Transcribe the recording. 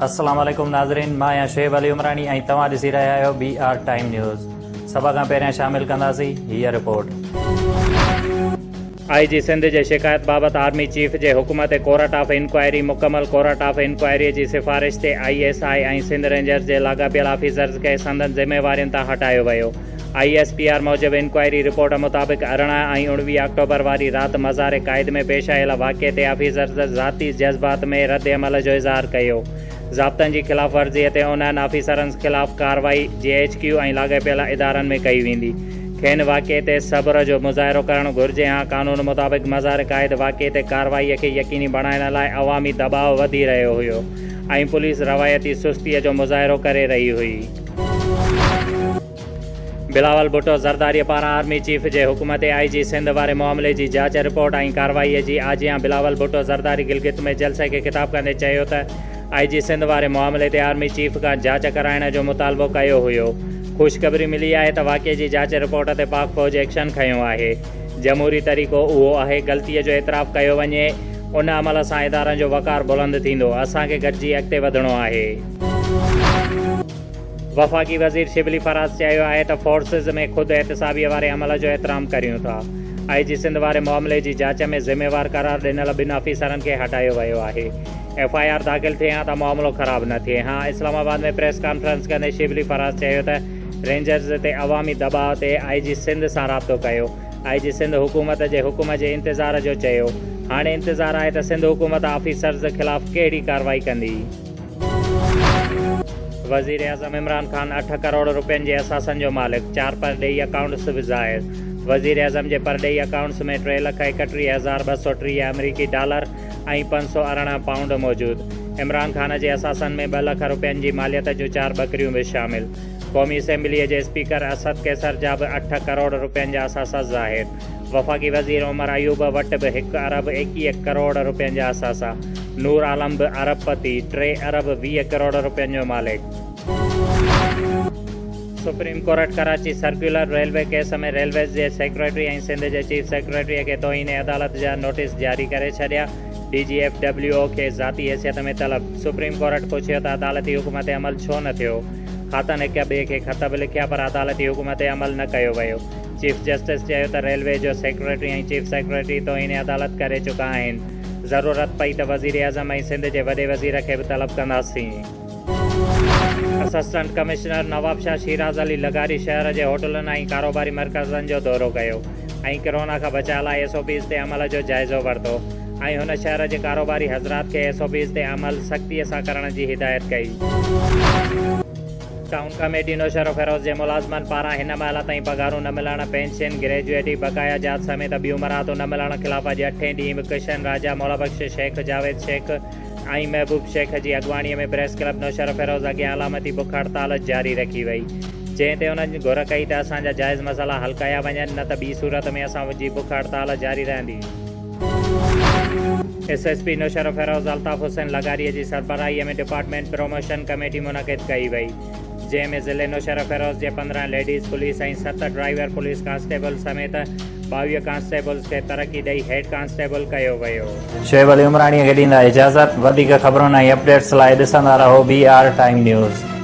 السلام عليڪم ناظرين مان آهيان شعيب علي عمراڻي ۽ توهان ڏسي رهيا آهيو بي آر ٽائيم نيوز سڀ کان پهريان شامل ڪنداسين هيء رپورٽ آء جي سنڌ جي شڪايت بابت آرمي چيف جي حڪم تي ڪورٽ آف انڪوائري مڪمل ڪورٽ آف انڪوائري جي سفارش تي I S I ۽ Sindh rangers جي لاڳاپيل آفيسرز کي سندن ذميوارين تان هٽايو ويو آء ايس پي آر موجب انڪوائري رپورٽ مطابق ارڙهن ۽ اڻويهه آڪٽوبر واري رات مزار قائد ۾ پيش آيل واقعي تي آفيسرز ذاتي جذبات ۾ رد عمل جو اظهار ڪيو ضابطن جي خلاف ورزي تي انهن آفيسرنز خلاف ڪارروائي جي ايڇ ڪيو ۽ لاڳاپيل ادارن ۾ ڪئي ويندي کين واقعي تي صبر جو مظاهرو ڪرڻ گهرجي ها قانون مطابق مزار قائد واقعي تي ڪارروائي کي يقيني بڻائڻ لاء عوامي دٻاء وڌي رهيو هيو ۽ پوليس روايتي سستي جو مظاهرو ڪري رهي هئي. بلاول ڀٽو زرداريء پاران آرمي چيف جي حڪم تي آء جي سنڌ واري معاملي جي جاچ رپورٽ ۽ ڪارروائيء جي آجيان بلاول ڀٽو زرداري گلگت ۾ جلسي کي خطاب ڪندي چيو ته آء جي سنڌ واري معاملي تي آرمي چيف کان جاچ ڪرائڻ جو مطالبو ڪيو هيو خوشخبري ملي آهي ته واقعي جي جاچ رپورٽ تي پاڪ فوج ايڪشن کنيو آهي جمهوري طريقو اهو آهي غلطيء جو اعتراف ڪيو وڃي ان عمل سان ادارن جو وقار بلند ٿيندو اسان کي گڏجي اڳتي وڌڻو آهي. وفاقي وزير شبلي فراز چيو آهي ته فورسز ۾ خود احتسابيء واري عمل جو احترام ڪريون ٿا، آء جي سنڌ واري معاملي جي جاچ ۾ ذميوار قرار ڏنل ٻن آفيسرن کي هٽايو ويو آهي، ايف آء آر داخل ٿئي ها ته معاملو خراب نه ٿئي ها، اسلام آباد ۾ پريس ڪانفرنس ڪندي شبلي فراز چيو ته رينجرز تي عوامي دٻاء تي آء جي سنڌ سان رابطو ڪيو، آء جي سنڌ حڪومت جي حڪم جي انتظار جو چيو، هاڻي انتظار آهي ته سنڌ حڪومت آفيسرز خلاف ڪهڙي ڪارروائي ڪندي. وزيراعظم عمران خان اٺ ڪروڙ روپين جي اثاثن جو مالڪ، چار پرڏيهي اڪائونٽس به ظاهر، وزيراعظم جي پرڏيهي اڪائونٽس ۾ ٽي لک ايڪٽيهه هزار ٻه سؤ ٽيهه آمريڪي ڊالر ۽ پنج سؤ ارڙهن پائونڊ موجود، عمران خان جي اثاثن ۾ ٻه لک روپين جي ماليت جون چار ٻڪريون به شامل، قومي اسيمبليء جي اسپيڪر اسد قيصر جا به اٺ ڪروڙ روپين جا اثاثا ظاهر. وفاقي وزير عمر ايوب وٽ به هڪ ارب ايڪيهه ڪروڙ رپين جا اثاثا، نور عالم به ارب پتي، ٽي ارب ويهه ڪروڙ رپين جو مالڪ. Supreme court Karachi circular railway case ۾ railways جي سيڪريٽري ۽ سنڌ جي چيف سيڪريٽري کي توهين عدالت جا نوٽيس جاري ڪري ڇڏيا، D G F W O کي ذاتي حيثيت ۾ طلب، سپريم ڪورٽ پڇيو ته عدالتي حڪم تي عمل ڇو نه ٿيو، هاٿن هڪ ٻئي کي خط به لکيا پر عدالتي حڪم تي عمل نه ڪيو ويو. چيف جسٽس چيو ته ريلوي جو سيڪريٽري ۽ چيف سيڪريٽري توهين عدالت ڪري چڪا آهن، ضرورت پئي ته وزيراعظم ۽ سنڌ جي وڏي وزير کي به طلب ڪنداسين. اسسٽنٽ ڪمشنر نوابشاهه شيراز علي لغاري شهر جي هوٽلن ۽ ڪاروباري مرڪزن جو دورو ڪيو ۽ ڪرونا کان بچاء لاء ايس او پيز تي عمل جو جائزو ورتو ۽ هن شهر جي ڪاروباري حضرات کي ايس او پيز تي عمل سختي سان ڪرڻ جي هدايت ڪئي. ٽائون ڪميٽي نوشهروفيروز جي ملازمن پاران هن مهل تائين پگهارون نه ملڻ، پينشن، گريجوئٽي، بقايا جات سميت ٻيون مراعتون نه ملڻ خلاف اڄ اٺين ڏينهن به ڪشن راجا، مولا بخش شيخ، جاويد شيخ ۽ محبوب شيخ جي اڳواڻي ۾ پريس ڪلب نوشهروفيروز اڳيان علامتي بک هڙتال جاري رکي وئي جنهن تي انهن گهر ڪئي ته اسان جا جائز مسئلا حل ڪيا وڃن نه ته ٻي صورت ۾ اسان جي بک هڙتال جاري رهندي. S S P Naushahro Feroze Altaf Hussain لغاري جي سربراهي ۾ ڊپارٽمينٽ پروموشن ڪميٽي منعقد ڪئي وئي جنهن ۾ ضلعي نوشهروفيروز جي پندرهن ليڊيز پوليس ۽ ست ڊرائيور پوليس ڪانسٽيبل سميت ٻاويهه ڪانسٽيبلز کي ترقي ڏئي هيڊ ڪانسٽيبل ڪيو ويو. شعيب علي عمراڻي کي ڏيندا اجازت. وڌيڪ خبرن ۽ اپڊيٽس لاء ڏسندا رهو بي آر ٽائيم نيوز.